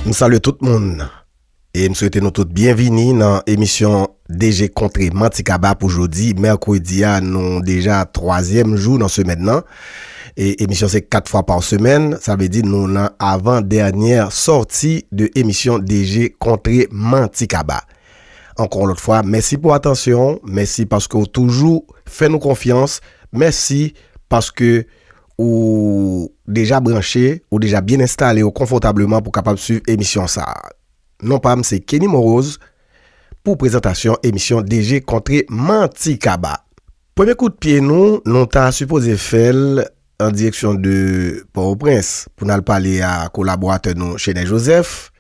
M salye tout moun e m swete nou tout byenvini nan emisyon DG Kontre Manti Kaba pou jodi mèkredi a nou deja twazyèm jou nan semèn nan e emisyon se 4 fwa pa semèn sa vle di nou nan avan dènyè sòti de emisyon DG Kontre Manti Kaba. Ankò yon lòt fwa mèsi pou atansyon w, mèsi paske w toujou fè nou konfyans, mèsi paske. Ou deja branche, ou deja byen enstale w konfòtableman pou kapab swiv emisyon sa a. Non pa m se Kenny Morose pou prezantasyon emisyon DG kontre manti kaba. Premye kout pye nou, nou ta sipoze fè l an direksyon de Pòtoprens pou n al pale a kolaboratè nou Chenè Jozèf.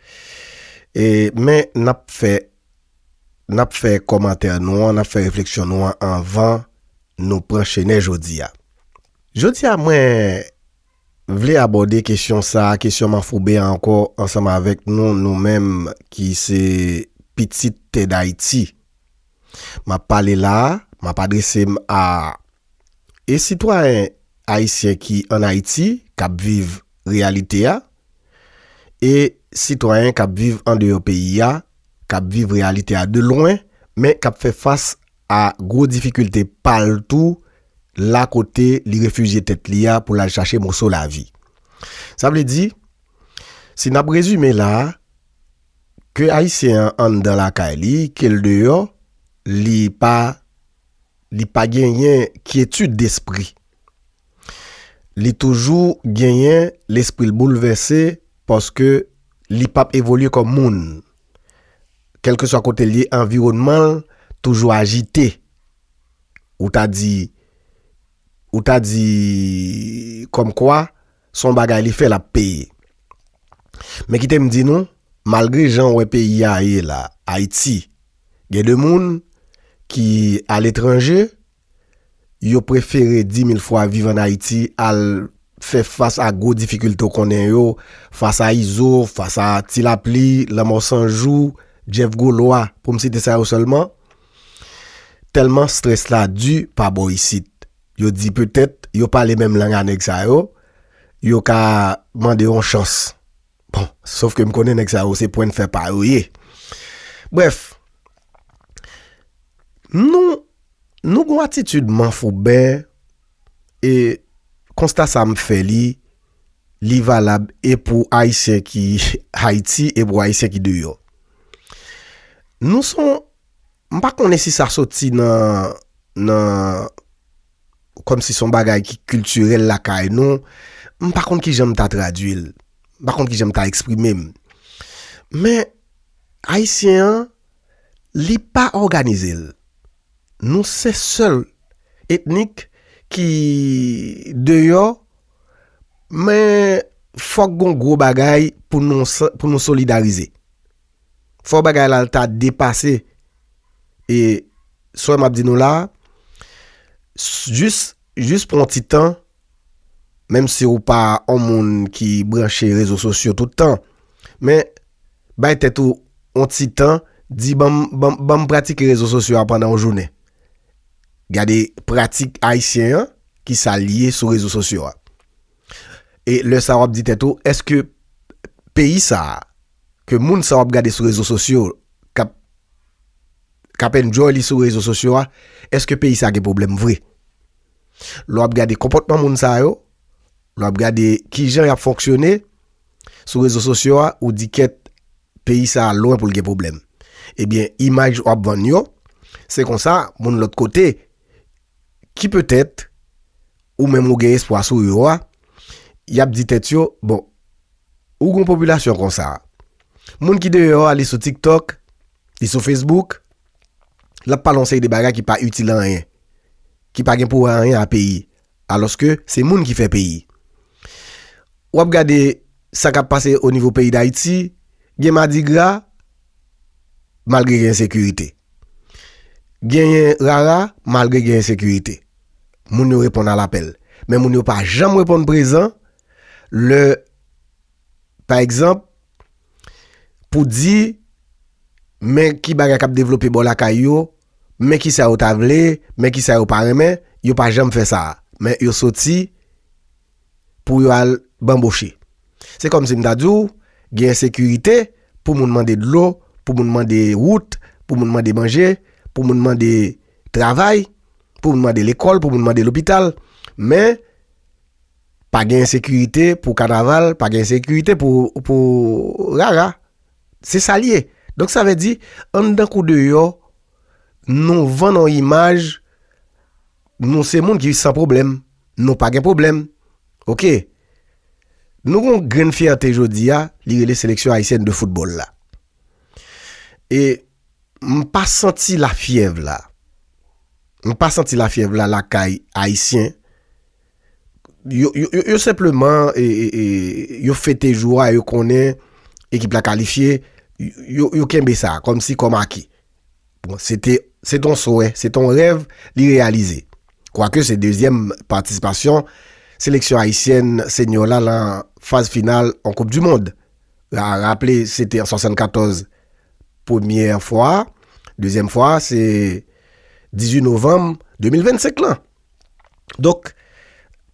Men n ap fè n ap fè kòmantè nou an, n ap fè refleksyon nou an anvan Nou pran chenè jodi a. Jodi a mwen Vle abòde kesyon sa a, kesyon manfouben an ankò ansanm avèk nou, nou menm ki se pitit tè dayiti. M ap pale la a, m ap adrese m a e sitwayen ayisyen ki an Ayiti k ap viv reyalite a e sitwayen k ap viv andeyò peyi a k ap viv reyalite a de lwen men k ap fè fas a gwo difikilte pa l tou la kote li refijye tèt li a pou l al chache moso lavi. Sa vle di, si n ap rezime la, ke Ayisyen an anndan lakay li, ke l deyò, li pa li pa genyen kyetid despri. Li toujou genyen lespri l boulvèse paske li pap evolye kòm moun. Kèlkeswa kote l ye, anviwònman l toujou ajite. Ou ta di, ou ta di kòmkwa se yon bagay li fè l ap peye. Men kite m di nou, malgre jan w wè peyi a ye la, Ayiti, gen de moun ki aletranje, yo prefere di mil fwa viv an Ayiti al fè fas a gwo difikilte w konnen yo, fas a Izo, fas a Ti Lapli, Lanmò San Jou, Jeff Golwa, pou m site sa yo sèlman. Tèlman strès la di pa bò isit, yo di petèt yo pale menm lang a nèg sa yo, yo ka mande yon chans. Bon, sof ke m konnen nèg sa yo se pwenn fè pa yo ye. Brèf, nou, nou gon atitid manfouben e konsta sa m fè li, li valab e pou Ayisyen ki Ayiti e pou Ayisyen ki deyò. Nou son, m pa konnen si sa soti nan, nan. kòm si son bagay ki kiltirèl lakay nou, m pa konn kijan m ta tradui l, m pa konn kijan m ta eksprime m. Men, Ayisyen an, li pa òganize l. Nou se sèl etnik ki deyò, men fòk gon gwo bagay pou nou solidarize. Fò bagay la ta depase e sò m ap di nou la a, jis, jis pran yon ti tan, menm si ou pa yon moun ki branche rezo sosyo tout tan, men bay tèt ou yon ti tan, di ban m, ban m, ban m pratike rezo sosyo a pandan yon jounen. Gade pratik ayisyen an, ki sa l ye sou rezo sosyo a. E lè sa wap di tèt ou, eske peyi sa ke moun sa wap gade sou rezo sosyo kap kap enjoy li sou rezo sosyo a, eske peyi sa gen pwoblèm vre? Lè wap gade konpòtman moun sa yo, lè wap gade kijan yap fonksyone sou rezo sosyo a, ou di kèt peyi sa lwen pou l gen pwoblèm. Ebyen imaj wap vann yo, se konsa moun lòt kote ki petèt ou menm ou gen espwa sou yo a, y ap di tèt yo, bon, ou gen yon popilasyon konsa, moun ki deyò a li sou TikTok, li sou Facebook, l ap pale yon seri de bagay ki pa itil anyen, ki pa gen pou wè anyen a peyi, alòske se moun ki fè peyi. W ap gade sa k ap pase onivo peyi Dayiti, gen madigra, malgre gen ensekirite. Genyen rara malgre gen ensekirite. Moun yo reponn alapèl. Men moun yo pa janm reponn prezan lè pa egzanp pou di men ki bagay k ap devlope bò lakay yo, men ki sa yo ta vle, men ki sa yo pa renmen, yo pa janm fè sa a. Men yo soti. pou yo al banboche. Se kòmsi m ta di w gen ensekirite pou moun mande dlo, pou moun mande wout, pou moun mande manje, pou moun mande travay, pou moun mande lekòl, pou moun mande lopital. Men, pa gen ensekirite pou kanaval, pa gen ensekirite pou rara. Se sa l ye. Donk sa vle di, anndan kou deyò, nou vann yon imaj, nou se moun ki san pwoblèm. Nou pa gen pwoblèm. Ok. Nou gen yon grenn fyète jodi a, li rele seleksyon ayisyèn de foutbòl la. E m pa santi lafyèv la. M pa santi lafyèv la lakay ayisyen. Yo senpleman yo fete jou a, yo konnen ekip la kalifye, yo kenbe sa kòm si kòm aki. Bon, se te, se te yon souwè, se te yon rèv li reyalize. Kwake se dezyèm patisipasyon seleksyon ayisyèn senyo la lan faz final yon koup di mond. A raple se te an 74 premyè fwa, dezyèm fwa se 18 novanm 2025 lan. Donk,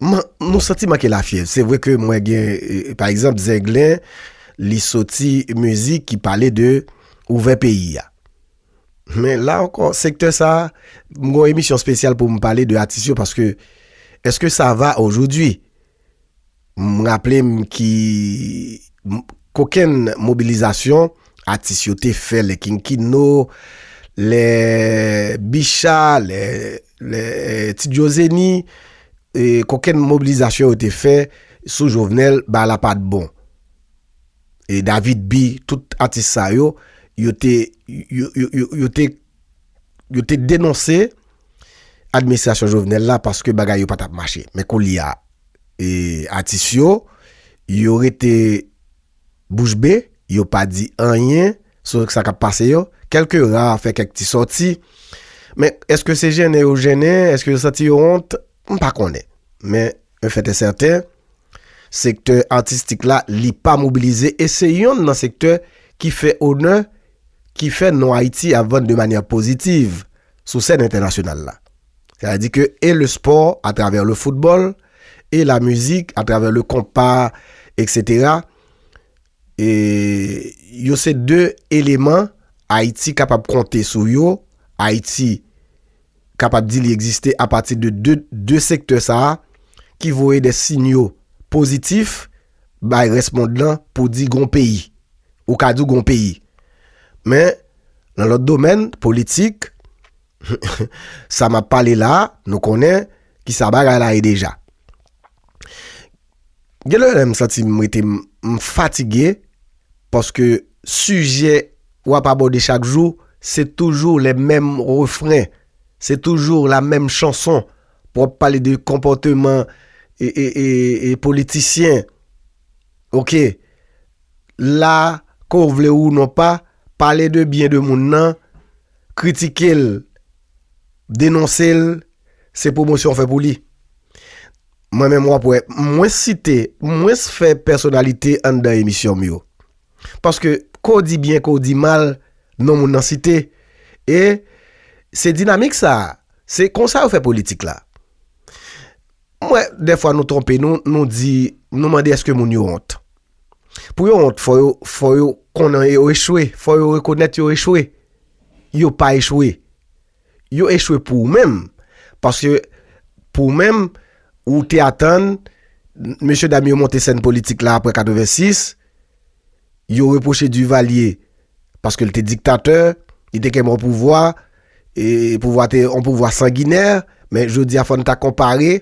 nou santi manke lafyèv. Se vre ke mwen gen, pa egzanp, Zenglen, li soti mizik ki pale de ouvè peyi a. Men la ankò, sektè sa, m gon emisyon spesyal pou m pale de atis yo paske, eske sa va ojoudwi? M raple m ki kokenn mobilizasyon atis yo te fè lè King Kino, lè Bicha, lè Ti Djo Zeni, kokenn mobilizasyon yo te fè sou Jovenel ba la pa t bon. E David B, tout atis sa yo, yo te. Yo te denonse administrasyon Jovenel la paske bagay yo pa t ap mache. Men koulye a, atis yo, yo rete bouch be, yo pa di anyen sou sa k ap pase yo. Kèlke ra fè kèk ti sòti. Men, èske se jennen yo jennen? Èske yo santi yo wont? M pa konnen. Men, yon fèt e sèten. Sektè atistik la li pa mobilize e se yonn nan sektè ki fè onè, ki fè non Ayiti ap vann de manyè pozitiv sou sèn entènasyonal la. Sètadi ke e le spò atravè le foutbòl e la mizik atravè le konpa eksetera, E yo se 2 eleman Ayiti kapab konte sou yo, Ayiti kapab di li egziste apati de 2 sektè sa a ki voye de sinyo pozitif bay rès mond lan pou di gon peyi. Ou ka di w gon peyi. Men, nan lòt domèn, politik. Sa map pale la a, nou konnen ki sa bagay la ye deja. Gen lè m santi m rete m fatige paske sijè wap abòde chak jou se toujou lè menm refren, se toujou la menm chanson pou ap pale de konpòteman e politisyen. Ok, la ke w vle ou non pa, pale de byen de moun nan. Kritike l, denonse l, se pwomosyon w fè pou li. Mwen menm w ap wè, m mwens site, m mwens fè pèsonalite anndan emisyon m yo. Paske ke w di byen, ke w di mal, non moun nan site. E se dinamik sa a, se konsa yo fè politik la. M wè dèfwa nou twonpe nou, nou di, nou mande èske moun yo wont. Pou yo wont, fò yo, fò yo konnen yo echwe, fò yo rekonèt yo echwe. Yo pa echwe. Yo echwe pou ou menm. Paske pou ou menm, ou te atann, mesye dam yo monte sèn politik la apre 86, yo repwoche Duvalier, paske l te diktatè, li te kenbe yon pouvwa, e pouvwa te yon pouvwa sanginè, men jodi a fò n ta konpare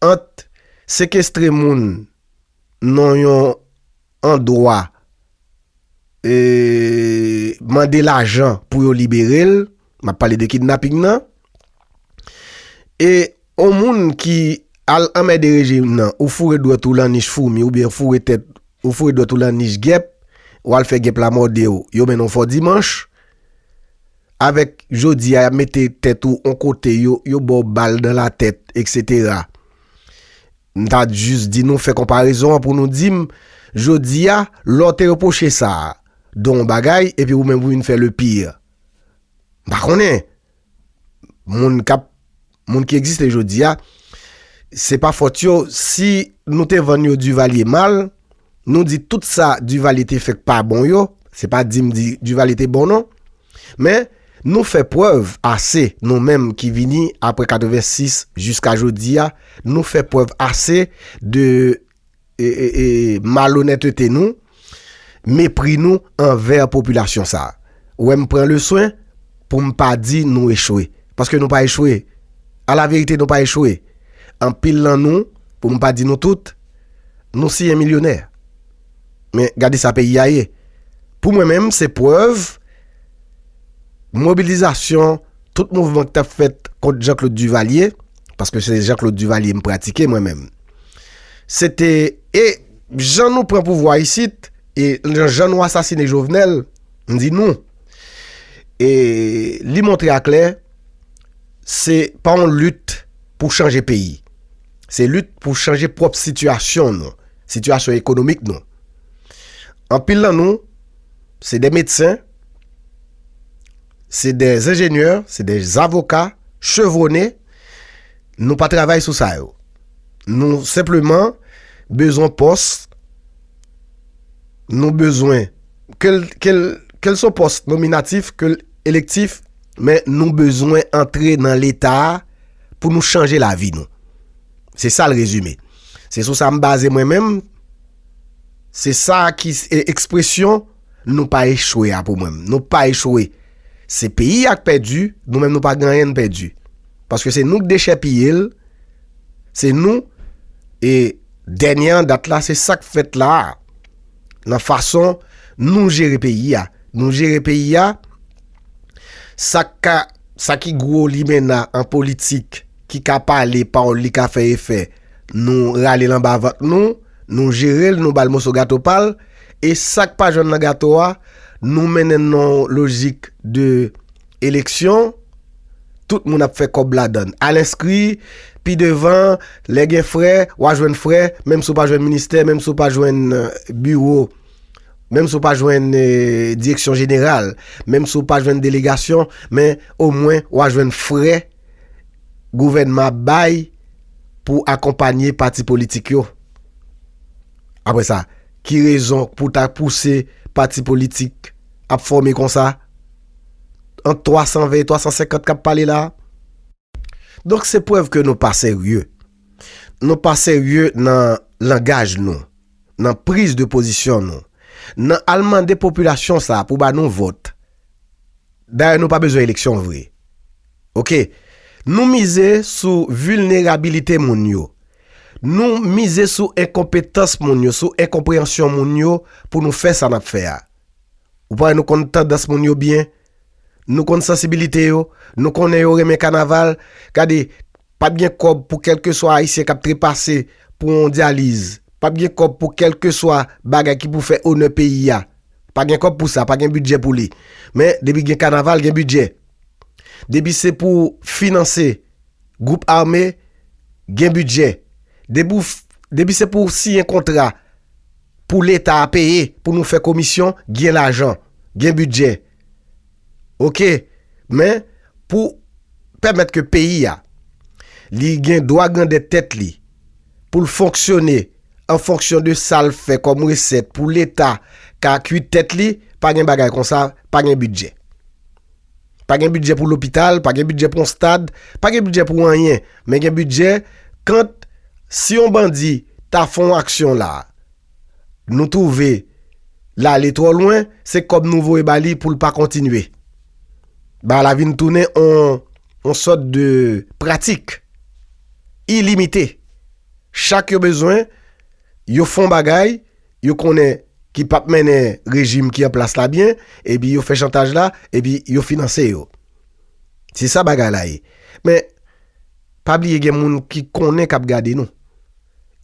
ant sekestre moun, non yon andwa e mande lajan pou yo libere l, m ap pale de kidnaping nan, e yon moun ki al anmède rejim nan, ou foure dwèt ou lan nich foumi oubyen ou foure tèt ou foure dwèt ou lan nich gèp, w al fè gèp la mòde w, yo mennen w fò dimanch, avèk jodi a y ap mete tèt ou yon kote, yo ba w bal dan latèt, eksetera. M ta jis di nou fè konparezon an pou nou di m, jodi a, lè w te repwoche sa a Don yon bagay epi ou menm ou vin fè le pire. M pa konnen. Moun k ap, moun ki egziste jodi a, se pa fòt yo. Si nou te vann yo Duvalier mal. Nou di tout sa Duvalier te fè k pa bon yo, se pa di m di Duvalier te bon non, men nou fè prèv ase nou menm ki vini aprè 86 jiska jodi a, nou fè prèv ase de malonètete nou, mepri nou anvè popilasyon sa. Ou wè m pran leswen pou m pa di nou echwe, paske nou pa echwe, alaverite nou pa echwe, anpil nan nou, pou m pa di nou tout. Nou siye milyonè. Men gade sa peyi a ye. Pou mwen menm se prèv mobilizasyon tout mouvman ki t ap fèt kont Jean Claude Duvalier, paske se Jean Claude Duvalier m pratike mwen menm. Se te e jan nou pran pouvwa isit e jan nou asasine Jovenel, m di nou, e li montre aklè se pa yon lit pou chanje peyi. Se lit pou chanje pwòp sitiyasyon nou, sitiyasyon ekonomik nou. Anpil nan nou, se de medsen, se de zenjenyè, se de zavoka, chevwone, nou pa travay sou sa yo. Nou senpleman bezwen pòs, nou bezwen, kel son pòs nominatif, kel elektif, men nou bezwen antre nan leta a, pou nou chanje lavi nou. Se sa l rezime. Se sou sa m baze mwen menm, se sa ki ekspresyon nou pa echwe a pou mwen. Nou pa echwe. Se peyi a k pèdi, nou menm nou pa gen anyen n pèdi. Paske se nou k dechèpiye l, se nou e dènye an dat la se sa k fèt la a. Nan fason nou jere peyi a. Nou jere peyi a. Sa k ka, sa ki gwo limena an politik, ki ka pale, pawòl li ka fè efè, nou rale l anba vant nou, nou jere l, nou ba l moso gato pa l, e sa k pa jwenn nan gato a, nou mennen l nan yon lojik de eleksyon, tout moun ap fè kòb ladan l. Al enskri, pi devan, lè gen frè, w a jwenn frè, menm si w pa jwenn ministè, menm si w pa jwenn biwo. Menm si w pa jwenn direksyon jeneral, menm si w pa jwenn delegasyon, men omwen w a jwenn frè gouvènman ap bay pou akonpanye pati politik yo. Apre sa, ki rezon pou w ta pouse pati politik ap fòme konsa? Ant 320 e 350 k ap pale la a? Donk se prèv ke nou pa serye. Nou pa serye nan langaj nou, nan priz de pozisyon nou, nan al mande popilasyon sa pou ba nou vòt. Dayè nou pa bezwen eleksyon vre. Ok. Nou mize sou vilnerabilite moun yo. Nou mize sou enkonpetans moun yo, sou enkonpreyansyon moun yo pou nou fè sa nap fè a. Ou pare nou konn tandans moun yo byen? Nou konn sansibilite yo, nou konnen yo renmen kanaval, gade pap gen kòb pou kèlkeswa ayisyen kap trepase pou yon dyaliz, pap gen kòb pou kèlkeswa bagay ki pou fè onè peyi a, pa gen kòb pou sa, pa gen bidjè pou li, men depi gen kanaval gen bidjè, depi se pou finanse. Gwoup ame gen bidjè. Depi w depi se pou siyen kontra pou leta a peye pou nou fè komisyon gen lajan, gen bidjè. Ok men pou pèmèt ke peyi a li gen dwa grandèt tèt li pou l fonksyone an fonksyon de sa l fè kòm resèt pou leta ka kwit tèt li pa gen bagay konsa pa gen bidjè. Pa gen bidjè pou lopital, pa gen bidjè pou yon stad, pa gen bidjè pou anyen, men gen bidjè kant si yon bandi ta fè yon aksyon la, nou twouve l ale twò lwen, se kòb nou voye ba li pou l pa kontinye. Bagay la vin tounen yon sòt de pratik ilimite. Chak yo bezwen, yo fè yon bagay, yo konnen ki pap mennen rejim ki an plas la byen epi yo fè chantaj la epi yo finanse yo se sa bagay la ye men pa bliye gen moun ki konnen kap gade nou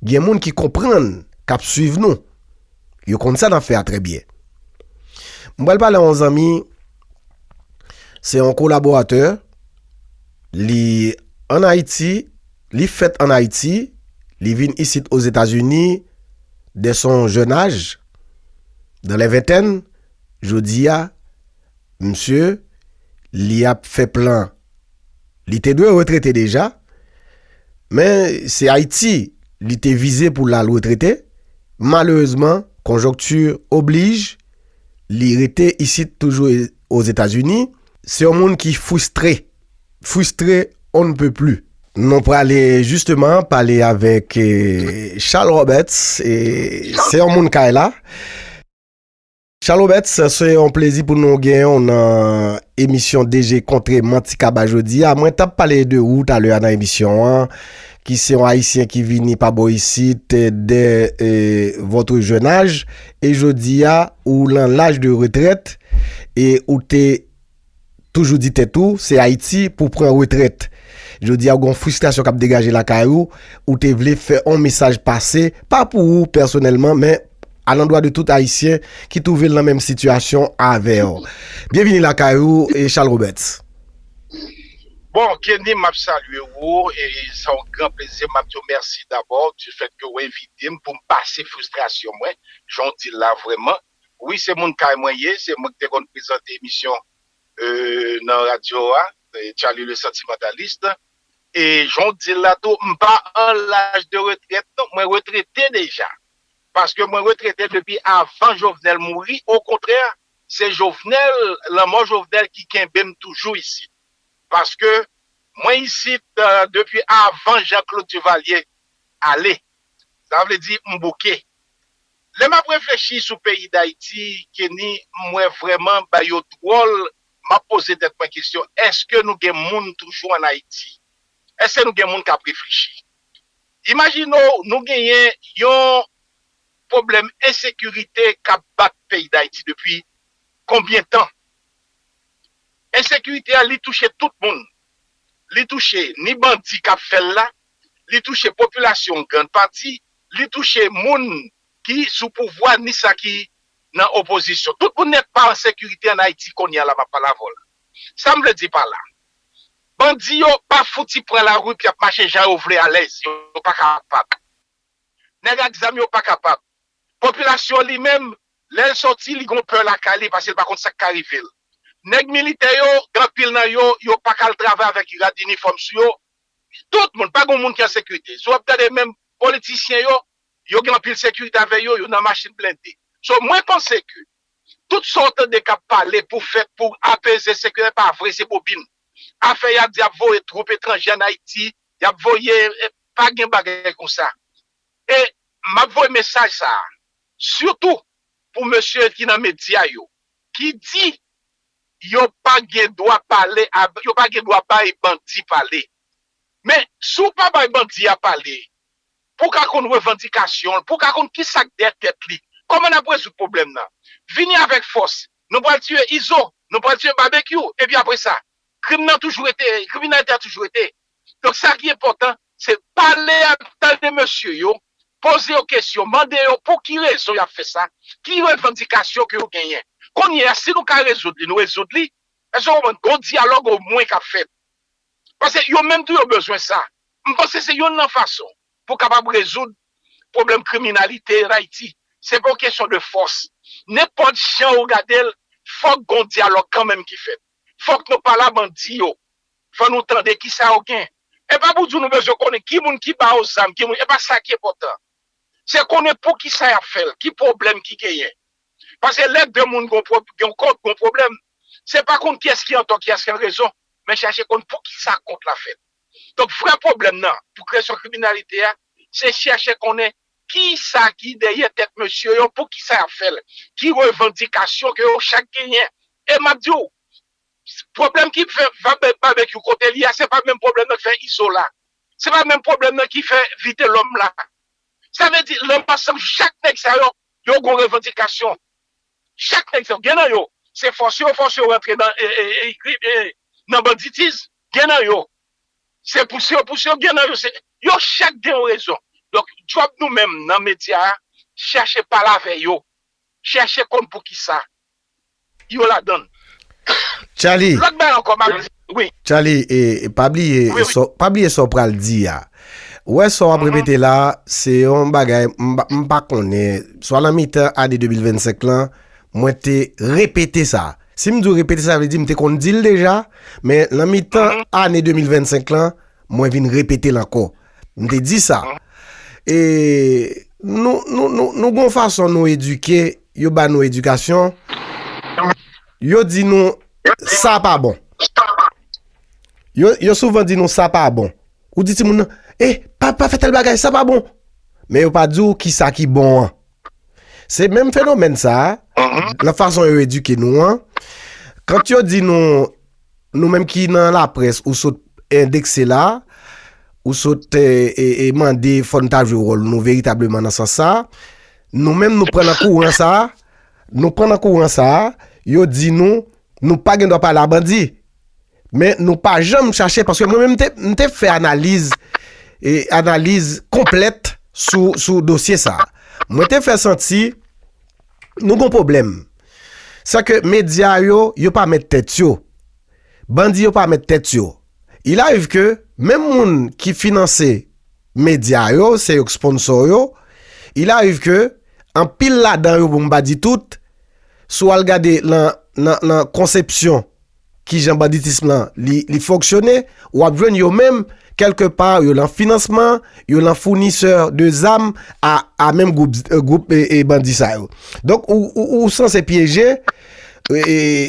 gen moun ki konprann kap swiv nou yo konn sa nap fè a trè byen m pral pale yon zanmi se yon kolaboratè li an ayiti Li fèt an Ayiti, li vin isit Ozetazini dè son jèn aj, dan lè ventèn, jodi a, msye, li ap fè plan. Li te dwe retrete deja, men se Ayiti li te vize pou l al retrete, malerezman, konjonkti oblij, li rete isit toujou Ozetazini, se yon moun ki fristre. Frustré on ne peut plus. Nou prale justement pale avèk Charles Roberts, se yon moun kay la. Charles Roberts, se yon plezi pou nou genyen w nan emisyon DG Kontre Manti Kaba jodi a. Mwen t ap pale de ou talè a nan emisyon an, ki se yon Ayisyen ki vini pa bò isit dè votre jeune âge, e jodi a ou lan laj de retrèt e ou te toujou di tèt ou se Ayiti pou w pran retrèt. Jodi a ou gen yon fristrasyon k ap degaje lakay ou, ou te vle fè yon mesaj pase, pa pou ou pèsonèlman men alandwa de tout Ayisyen ki twouve l nan menm sitiyasyon avè w. Byenvini lakay ou Charles Roberts. Bon, Kenny m ap salye ou e se yon gran plezi m ap di w mèsi dabò difèt ke w envite m pou m pase fristrasyon mwen jan w di l la vrèman. Wi se moun kay mwen ye, se mwen ki te konn prezante emisyon nan radyo a, Charly le sentimentaliste, e jan w di l la tou m pa an laj de retrèt non, mwen retrete deja, paske mwen retrete depi avan Jovenel mouri, okontrè se Jovenel, lanmò Jovenel ki kenbe m toujou isit, paske mwen isit depi avan Jean Claude Duvalier ale, sa vle di m bouke, Lè map reflechi sou peyi dayiti Kenny m wè vrèman bagay yo dwòl map poze tèt mwen kesyon eske nou gen moun toujou an ayiti eske nou gen moun kap reflechi imajine w nou genyen yon pwoblèm ensekirite kap bat peyi dayiti depi konbyen tan ensekirite a li touche tout moun li touche ni bandi kap fèl la li touche popilasyon grand pati, li touche moun ki sou pouvwa ni sa ki nan opozisyon. Tout moun nèt pa an sekirite an Ayiti kounye a la m ap pale avè w la. Sa m vle di pa la, bandi yo pa fouti pran lari pou y ap mache jan yo vle alèz, yo pa kapab. Nèg ak zam yo pa kapab. Popilasyon li menm, lè l soti li gen yon pè lakay li pase l pa konn sa k ka rive l. Nèg militè yo, gen anpil nan yo, yo pa ka al travay avèk rad inifòm sou yo, Tout moun, pa gen moun ki an sekirite. Si w ap gade menm politisyen yo, yo gen anpil sekirite avè yo, yo nan machin blende. So mwen panse ke tout sa w tande k ap pale pou fèt pou apeze sekirite pa vre, se bobin. Afè y ap di y ap voye twoup etranje an Ayiti, y ap voye, pa gen bagay konsa. E m ap voye mesaj sa a sitou pou mesye ki nan medya yo ki di Yo pa gen dwa pale avè, yo pa gen dwa bay bandi pale. Men, si w pa bay bandi a pale, pou w ka konn revandikasyon l, pou w ka konn ki sa k dèyè tèt li, kòman n ap rezoud pwoblèm nan? Vini avèk fòs, nou pral tiye Izo, nou pral tiye Babekyou, epi apre sa? Krim nan toujou rete, kriminalite a toujou rete. Donk, sa ki enpòtan, Se pale ak tande mesye yo, poze yo kesyon, mande yo pou ki rezon y ap fè sa, ki revandikasyon ke yo genyen. Kounye a, si nou ka rezoud li, nou rezoud li. Èske w konprann? Gon dyalòg omwen k ap fèt. Paske yo menm tou yo bezwen sa. M panse se yonn nan fason pou kapab rezoud pwoblèm kriminalite an Ayiti. Se pa yon kesyon de fòs. Nenpòt jan ou gade l, fòk gon dyalòg kanmenm ki fèt. Fòk nou pale a bandi yo. Fò nou tande ki sa yo gen. E pa pou di w nou bezwen konnen ki moun ki ba yo zam, ki moun. E pa sa ki enpòtan. Se konnen pou ki sa y ap fè l, ki pwoblèm ki genyen. Pase lè de moun gen yon kont, gen yon pwoblèm, se pa konn kiyès ki antò, kiyès ki anrezon, men chache konn pou ki sa kont la fèt. Donk vrè pwoblèm nan pou kresyon kriminalite a se chèche konnen kisa ki dèyè tèt mesye yo, poukisa y ap fè l, ki revandikasyon ke yo chak genyen. E m ap di w, pwoblèm ki fè Babekyou kote li a se pa menm pwoblèm nan ki fè Izola, se pa menm pwoblèm nan ki fè Vitelòm la. Sa vle di nan ansanm chak nèg sa yo, yo gon revandikasyon. Chak nèg sa yo, gen nan yo se fòse yo fòse yo rantre nan banditism, gen nan yo se pou si yo pou si yo gen nan yo se yo chak gen yon rezon donk djòb nou menm nan medya a chèche pale avè yo chèche konn pou kisa yo ladann lòt bagay ankò map di wi Tchaly e pa bliye sa w pa bliye sa w pral di a ou wè sa w ap repete la se yon bagay m pa m pa konnen swa nan mitan ane 2025 lan mwen te repete sa Si m di w repete sa vle di m te konn di l deja, men nan mitan ane 2025 lan, mwen vin repete l ankò. M te di sa. E nou, nou, nou, nou gon fason nou edike, yo ba nou edikasyon, yo di nou sa pa bon. Yo, yo souvan di nou sa pa bon. Ou di timoun nan, E, pa, pa fè tèl bagay, sa pa bon. Men yo pa di w ki sa ki bon an. Se menm fenomèn sa a, nan fason yo edike nou an, kant yo di nou, nou menm ki nan laprès, ou sot endekse la, ou sot mande fò n ta jwe wòl nou veritableman nan sans sa a, nou menm nou pran nan kouran sa a, nou pran nan kouran sa a, yo di nou, nou pa gen dwa pale a bandi. Men nou pa janm chache paske mwen menm m te fè analiz e analiz konplèt sou dosye sa. Mwen te fè santi nou gon pwoblèm. Sa ke medya yo, yo pa mèt tèt yo. Bandi yo pa mèt tèt yo. Il arive ke menm moun ki finanse medya yo, se yo ki sponsor yo, il arive ke anpil ladan yo pou m pa di tout, si w al gade nan konsepsyon. Kijan banditism lan li fonksyone, w ap jwenn yo menm kèlke pa yo lan finansman, yo lan founisè de zam a menm gwoup bandi sa yo. Donk ou sanse pyeje,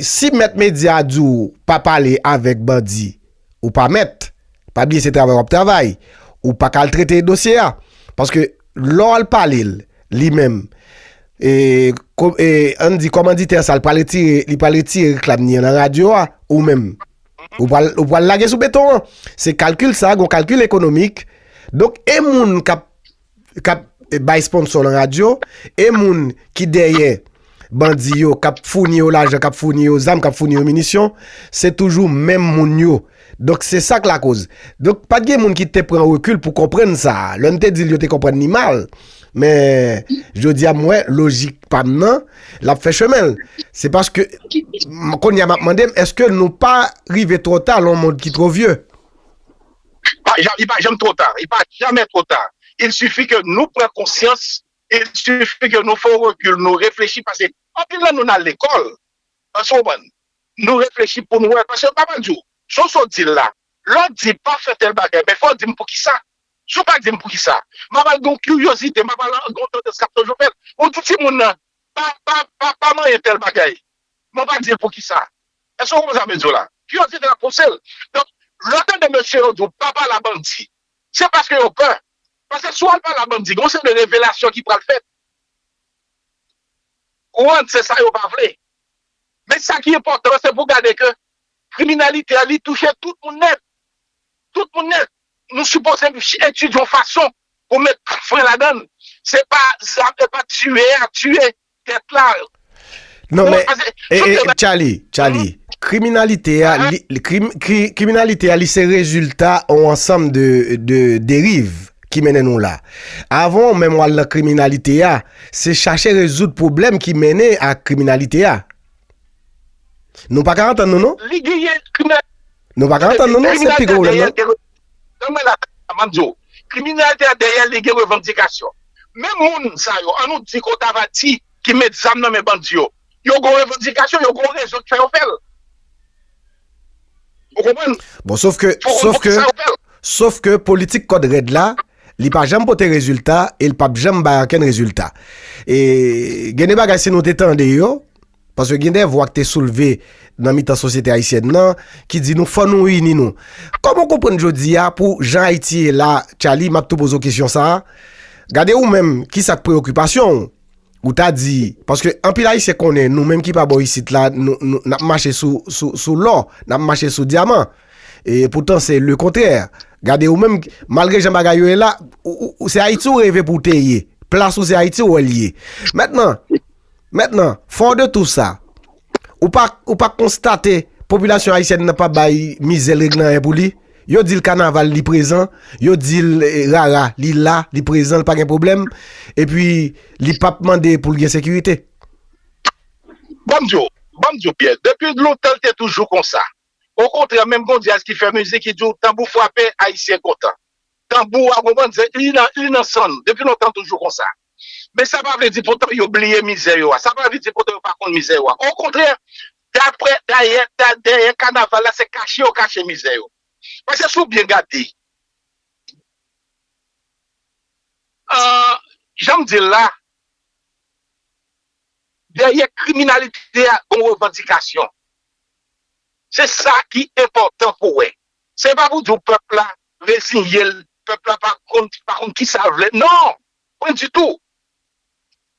si mèt medya di w pa pale avèk bandi, Ou pa mèt. Pa bliye se travay w ap travay. Ou pa ka al trete dosye a. Paske lè w al pale l, li menm, e, e, an n di kòmanditè sa l pral retire, li pral retire reklam li an nan radyo a, ou menm, ou pral, ou pral lage sou beton an. Se kalkil sa, gon kalkil ekonomik. Donk, e moun k ap. kap bay sponsor lan radio e moun ki dèyè bandi yo kap founi yo lajan kap founi yo zam kap founi yo minisyon se toujou menm moun yo donk se sak lakoz donk pat gen moun ki te pran rekil pou konprann sa lè nou te dil yo te konprann ni mal men jodia m wè lojik pam nan lap fè chemenl se paske m konya map mandem eske nou pa rive trota lon mond ki tro vye. Il pa janm two ta, il pa jamè two ta, il sifi ke nou pran konsyans, il sifi ke nou fè yon rekil, nou reflechi pase anpil nan nou nan lekòl, èske ou konprann? Nou reflechi pou nou wè, pase pa pral di ou, Jan sa w di l la, lè w di pa fè tèl bagay men fò w di m poukisa, si w pa di m poukisa, m a pral gen yon kiryozite, m a pral gen yon tandans k ap toujou fè l pou w di timoun nan pa pa pa pa manyen tèl bagay, Mwen pa di poukisa. Èske ou konprann sa mwen di w la? Kiryozite ap pouse l. Donk, lè w tande mesye yo di w pa pale a bandi, se paske yo pè. Paske si w al pale a bandi, gen yon seri de revelasyon ki pral fèt. Ou an, se sa yo pa vle. Men sa ki enpòtan an, se pou w gade ke kriminalite a li touche tout moun nèt. Tout moun nèt. Nou sipoze etidye yon fason pou met fren ladan l. Se pa zam, se pa tiye a tiye. tèt la. Non men, Charly, Charly, kriminalite a, kriminalite a li se rezilta ou ansanm de deriv ki mennen nou la. Avon ou menm wale nan kriminalite a, se chache rezout problem ki mennen a kriminalite a. Nou pa ka antan nou nou? Li genyen kriminalite a. Nou pa ka antan nou nou, se pi gwo ou lè nou. Tann mwen la kaka map diw. Kriminèlte a dèyè li gen revandikasyon. Menm moun sa yo an nou di ke w ta va di ki met zam nan men bandi yo. Yo gon revandikasyon, yo gon rezon ki fè yo fè l. Ou konprann? Bon sof ke, sof ke, sof ke politik kòd rèd la li pa janm pote rezilta e li pap janm bay ankenn rezilta. E gen de bagay si nou te tande yo. Paske gen de vwa ki te soulve nan mitan sosyete ayisyèn nan ki di nou fò nou ini nou. Kòman w konprann jodi a pou jan Ayiti ye la, Tchaly, m ap tou poze w kesyon sa a, gade ou menm ki sa k preyokipasyon w? Ou ta di, paske anpil Ayisyen konnen nou menm ki pa bò isit la n ap mache sou lò, n ap mache sou dyaman. E poutan se lekontrè. Gade ou menm, malgre jan bagay yo ye la, se Ayiti ou reve pou w te ye. Plas ou se Ayiti ou wè l ye. Mètnan. Mentnan, fort de tout sa, ou pa ou pa konstate popilasyon ayisyèn nan pa bay mizè l règle anyen pou li? Yo di l kanaval li prezan, yo di l rara li la, li prezan, li pa gen pwoblèm, epi li p ap mande pou l gen sekirite. Ban m di w, ban m di w Pyè, depi lontan l te toujou konsa. Okontrè, menm gen yon dyaz ki fè mizik ki di w tanbou frape, Ayisyen kontan. Tanbou a, ou konprann, se li nan li nan san nou, depi lontan l toujou konsa. Men sa pa vle di poutan yo bliye mizè yo a. Sa pa vle di poutan yo pa konn mizè yo a. Okontrè, daprè dayè, dèyè kanaval la se kache yo kache mizè yo. Paske si w byen gade, jan m di l la, dèyè kriminalite a gon revandikasyon. Se sa ki enpòtan pou w wè. Se pa pou di w pèp la reziye l, pèp la pa konn kisa l vle. Non! Mwen di tou,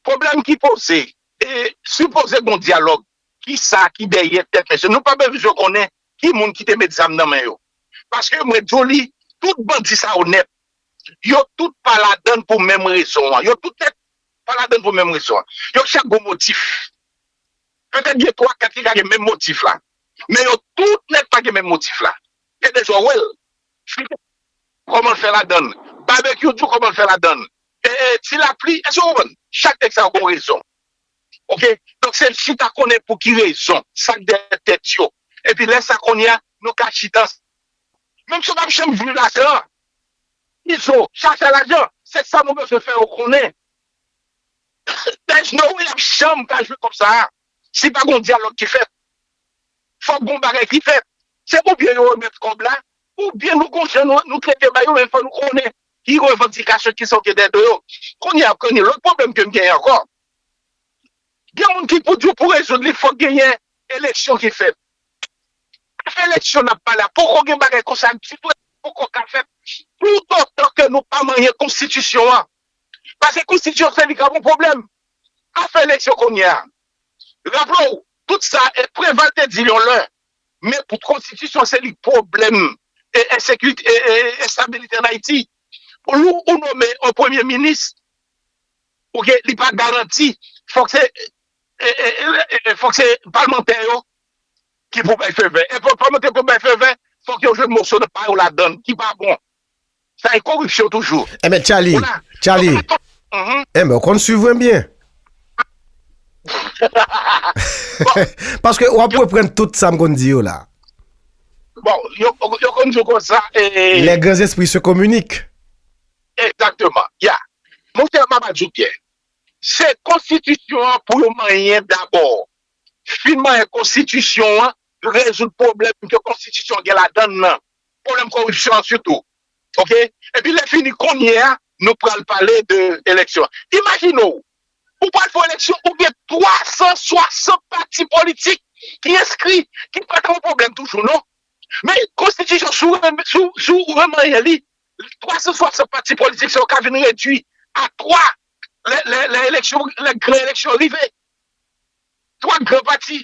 pwoblèm ki poze, e sipoze gon dyalòg, kisa ki dèyè tèt mesye? Nou pa bezwen konnen ki moun ki te met zam nan men yo. Paske mwen di w li, tout bandi sa yo nèt, yo tout pa ladann pou menm rezon an. Yo tout nèt pa ladann pou menm rezon an. Yo chak gon motif. Petèt gen 3, 4 ki ka gen menm motif la. Men yo tout nèt pa gen menm motif la. Gen de jou w wè l. Fri tou kòman l fè ladann. Babekyou tou kòman l fè ladann. Ti lapli èske w konprann? Chak nèg sa yo gon rezon ok donk se chita konnen pou ki rezon sa k dèyè tèt yo epi lè sa kounye a nou ka chita ansanm menm si yo pap janm jwi ladan izo chache lajan se sa nou bezwen fè yo konnen there's no way y ap janm ka jwi kòb sa a si pa gon dyalòg ki fèt fòk gon bagay ki fèt Se pou byen yo remèt kòb la, pou byen nou gon jan nou trete bay yo men fò nou konnen ki revandikasyon ki sa yo gen dèyè do yo. Kounye a ap konnen lòt pwoblèm ke m genyen ankò. Gen moun ki pou di w pou rezoud li fòk genyen eleksyon ki fèt. Afè eleksyon n ap pale a poko gen bagay konsa ditou e li poko ka fèt toutotan ke nou pa manyen konstitisyon an. Pase konstitisyon se li k ap yon pwoblèm. Afè eleksyon kounye a. Raple w, tout sa e Preval te di l yon lè Men konstitisyon se li pwoblèm e ensekirite e enstabilite an Ayiti. Pou lou ou nome yon premye minis ou gen li pa garanti fòk se e fòk se palmantè yo ki pou bay fevè. E pou palmantè pou bay fevè fòk yo jwenn moso nan pa yo ladann ki pa bon. Sa e koripsyon toujou. Enben Tchaly, Tchaly, enben ou konn swiv mwen byen. Paske wap reprann tout sa m konn di yo la. Bon, yo konn di w konsa e. Les grands esprits se communiquent. Exactement, ya. Mon cher map ba di w byen. Se konstitisyon an pou yo manyen dabò. Fin manyen konstitisyon an, rezoud pwoblèm ke konstitisyon gen ladann nan. Pwoblèm koripsyon an sitou. Ok? Epi lè fini kounye a nou pral pale de eleksyon. Imajine w, ou pral fè yon eleksyon ou gen 360 pati politik ki enskri, ki pa ta yon pwoblèm toujou non. Men konstitisyon si w remanyen li, 360 pati politik sa yo ka vin redui a 3 lè eleksyon, lè gran eleksyon rive. 3 gran pati.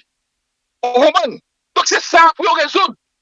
Ou konprann? Donk se sa pou yo rezoud.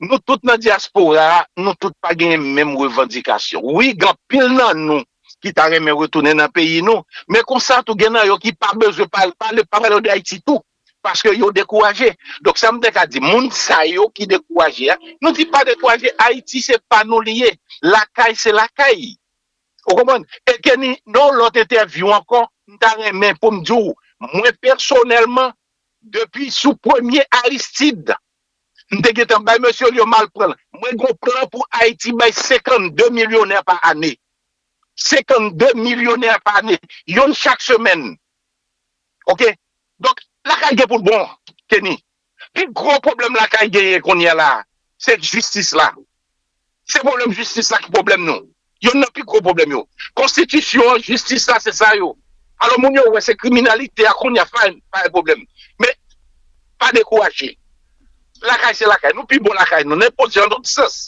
Nou tout nan dyaspora a, nou tout pa genyen menm revandikasyon. Wi, gen anpil nan nou ki ta renmen retounen nan peyi nou, men konsa tou gen nan yo ki pa bezwen pale, pa vle pa pale de Ayiti tou, paske yo dekouraje. Donk sa m te ka di, moun sa yo ki dekouraje a, nou di pa dekouraje, Ayiti se pa nou li ye, lakay se lakay. Ou konprann? E Kenny, nan yon lòt entèvyou ankò, m ta renmen pou m di w, mwen pèsonèlman, depi sou premye Aristide, M te gentan bay mesye l yo mal pran l. Mwen gon plan pou Ayiti bay 52 milyonè pa ane. 52 milyonè pa ane. Youn chak semèn. Ok. Donk, lakay gen pou l bon, Kenny. Pi gwo pwoblèm lakay genyen kounyela a, se jistis la. Se pwoblèm jistis la ki pwoblèm nou. Yonn nan pi gwo pwoblèm yo. Konstitisyon an, jistis la se sa yo. Alò moun yo wè se kriminalite a kounye a fine, pa gen pwoblèm. Men, pa dekouraje. Lakay se lakay. Nou pi bon lakay nou. Nenpòt jan, nan tout sans.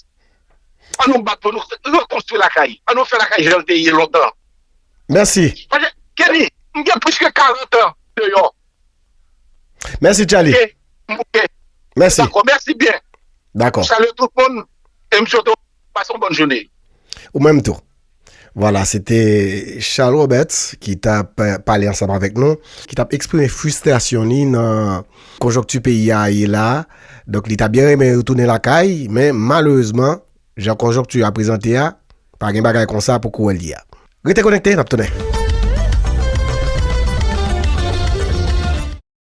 An nou bat pou nou rekonstwi lakay. An nou fè lakay jan l te ye lontan. Mèsi. Kenny, m gen plis ke 40 an deyò. Mèsi Tchaly. Ok, m ok. Mèsi. Dakò, mèsi byen. Dakò. M salye tout moun e m swete w pase yon bòn joune. Ou menm tou. Vwala, se te Charles Robert ki t ap pale ansanm avèk nou, ki t ap eksprime fristrasyon li nan konjonkti peyi a ye la a. Donk li ta byen renmen retounen lakay men malerezman Jan konjonkti a prezante a, pa gen bagay konsa pou kouwè li a. Rete konekte, n ap tounen!